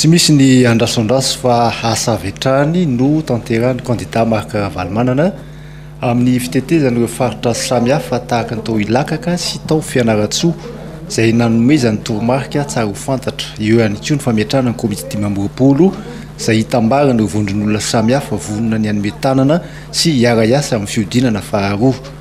Tsy misy ny andrasoandraso fa asa avy hatrany no tanterahin'ny kandida Marc Ravalomanana amin'ny fitetezana ireo faritra samihafa tahaka ny tao Ilakaka sy tao Fianarantsoa izay nanomezany toromarika tsara ho fantatra. Eo ihany koa ny fametrahana ny komity dimy amby roapolo izay hitambarana ireo vondron'olona samihafa vonona ny hanome tanana sy hiara-hiasa amin'ny fihodinana faharoa.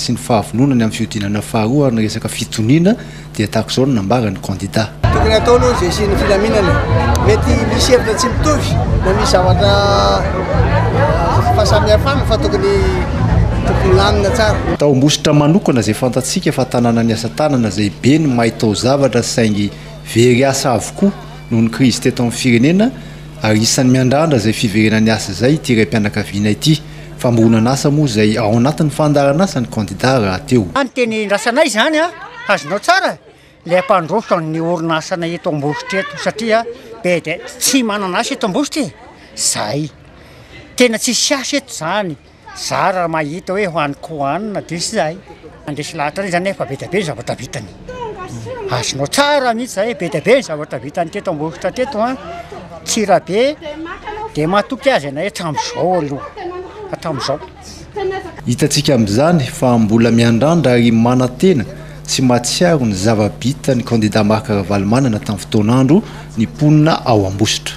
sy ny fahavononany amin'ny fihodinana faharoa ary ny resaka fitoniana dia tahaka izao no nambaran'ny kandida. Tokony hatao aloha ny vesian'ny filaminana. Mety misy hevitra tsy mitovy na misy zavatra fahasamihafana fa tokony tokony milamina tsara. Tao Ambositra manokana izay fantatsika fa tanàna ny asa tanana izay be ny mahay taozavatra saingy very asa avokoa noho ny krizy teto amin'ny firenena ary isan'ny miandrandra izay fiverenan'ny asa izay ity raim-pianakaviana ity. Fambohonan-asa moa izay ao anatin'ny fandaharan'asa ny kandida rahateo. Ny teny iandrasanay izany an, azonao tsara ilay hampandroso an'ny orinasanay eto Ambositra eto satria be dia tsy manana asa eto Ambositra e, zay. Tena tsisy asa eto izany, zara mahita hoe ho any Kohanina dia zay. Handresy lahatra re zany e, fa be dia be ny zavatra vitany. Azonao tsara mihitsy zay, be dia be ny zavatra vitany teto Ambositra teto an. Tsirabe dia matoky azy ianay hatramin'izao aloha, hatramin'izao. Hitantsika amin'izany fa mbola miandrandra ary manantena sy mahatsiaro ny zava-bitan'ny kandida Marc Ravalomanana tamin'ny fotoan'andro ny mponina ao Ambositra.